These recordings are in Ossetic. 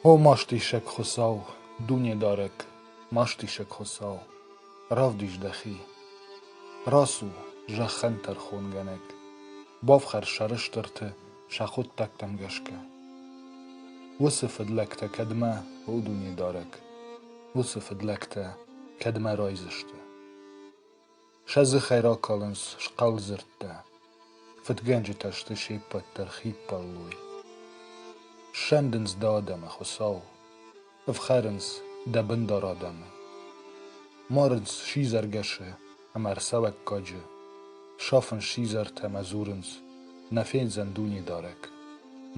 О мастисӕг Хуыцау, Дунедарӕг, мастисӕг Хуыцау, равдис дӕхи! Рацу, зӕххӕн тӕрхонгӕнӕг, бафхӕр сӕрыстырты сӕ хъуыддӕгтӕм гӕсгӕ. Уыцы фыдлӕгтӕ кӕдмӕ, о Дунедарӕг, уыцы фыдлӕгтӕ кӕдмӕ райдзысты? Сӕ дзыхӕй ракалынц схъӕлдзырдтӕ, фыдгӕнджытӕ сты се ппӕт дӕр хиппӕллой. Ссӕндынц дӕ адӕмы, Хуыцау, ӕфхӕрынц дӕ бындар адӕмы. Марынц сидзӕргӕсы ӕмӕ ӕрцӕвӕггаджы, сафынц сидзӕртӕ ӕмӕ дзурынц: Нӕ фендзӕн Дунедарӕг,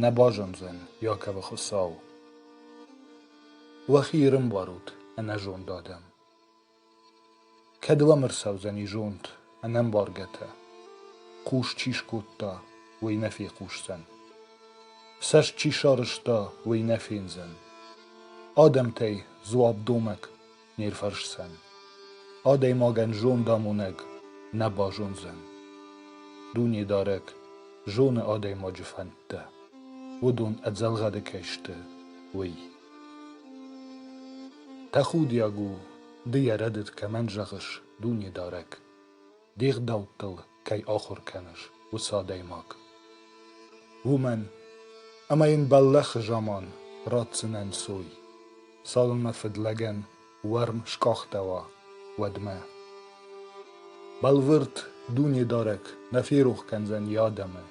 нӕ базондзӕн Иаковы Хуыцау. Уӕхи ирынбарут, ӕнӕзонд адӕм! Кӕд ыл ӕрцӕудзӕни зонд, ӕнӕмбаргӕтӕ, хъус чи скодта, уый нӕ фехъусдзӕн. Цӕст чи сарӕзта, уый нӕ фендзӕн. Адӕмтӕй дзуапдомӕг не рфӕрсдзӕн. Адӕймагӕн зондамонӕг нӕ базондзӕн. Дунедарӕг зоны адӕймаджы фӕндтӕ, уыдон ӕдзӕлгъӕды кӕй сты, уый. Тӕхудиаг у, ды йӕ рӕдыд кӕмӕн зӕгъыс, Дунедарӕг, де гъдӕуттыл кӕй ахуыр кӕныс, уыцы адӕймаг. Уымӕн, ӕмӕ йын бӕллӕхы заман ратдзынӕн сой, цалынмӕ фыдлӕгӕн уӕрм скъахтӕуа, уӕдмӕ. Бӕлвырд Дунедарӕг нӕ ферох кӕндзӕн йӕ адӕмы,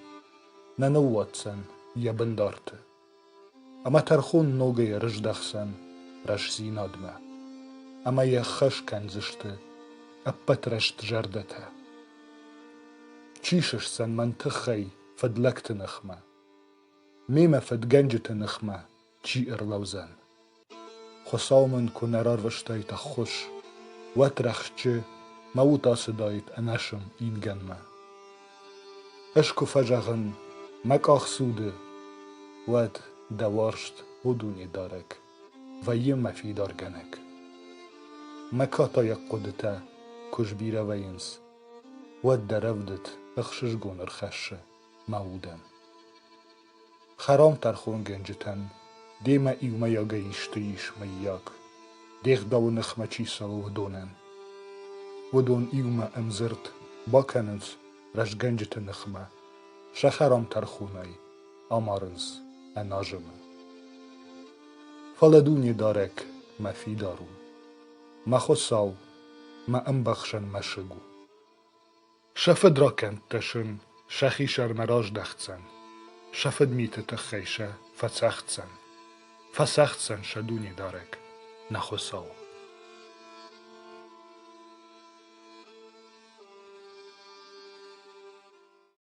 нӕ ныууадздзӕн йӕ бындарты. ӕмӕ тӕрхон ногӕй ӕрыздӕхдзӕн рӕстдзинадмӕ ӕмӕ йӕ ӕххӕс кӕндзысты ӕппӕт рӕстзӕрдӕтӕ. Чи сысдзӕн мӕн тыххӕй фыдлӕгты ныхмӕ? Мемӕ фыдгӕнджыты ныхмӕ чи ӕрлӕудзӕн? Хуыцау мын куы нӕ рарвыстаид ӕххуыс, уӕд рӕхджы мӕ уд ацыдаид ӕнӕсым ингӕнмӕ. Ӕз куы фӕзӕгъын мӕ къахдзуды, уӕд дӕ уарзт у дунедарӕг, вӕййы мӕ фидаргӕнӕг. Мӕ катайаг хъуыдытӕ куы сбирӕ вӕййынц, уӕд дӕ рӕвдыд ӕхсызгон ӕрхӕссы мӕ удӕн. Хӕрам-тӕрхонгӕнджытӕн демӕ иумӕйагӕй исты ис, мыййаг, дегъдауы ныхмӕ чи цӕуы, уыдонӕн. Уыдон иумӕ ӕмдзырд бакӕнынц рӕзгӕнджыты ныхмӕ, сӕ хӕрам-тӕрхонӕй амарынц ӕназымы. Фӕлӕ Дунедарӕг мӕ фидар у, мӕ Хуыцау мӕ ӕмбӕхсӕн мӕсыг у. Сӕ фыдракӕндтӕ сын сӕ хисӕрмӕ раздӕхдзӕн, сӕ фыдмиты тыххӕй сӕ фӕцӕгъддзӕн, фӕцӕгъддзӕн сӕ Дунедарӕг, нӕ Хуыцау.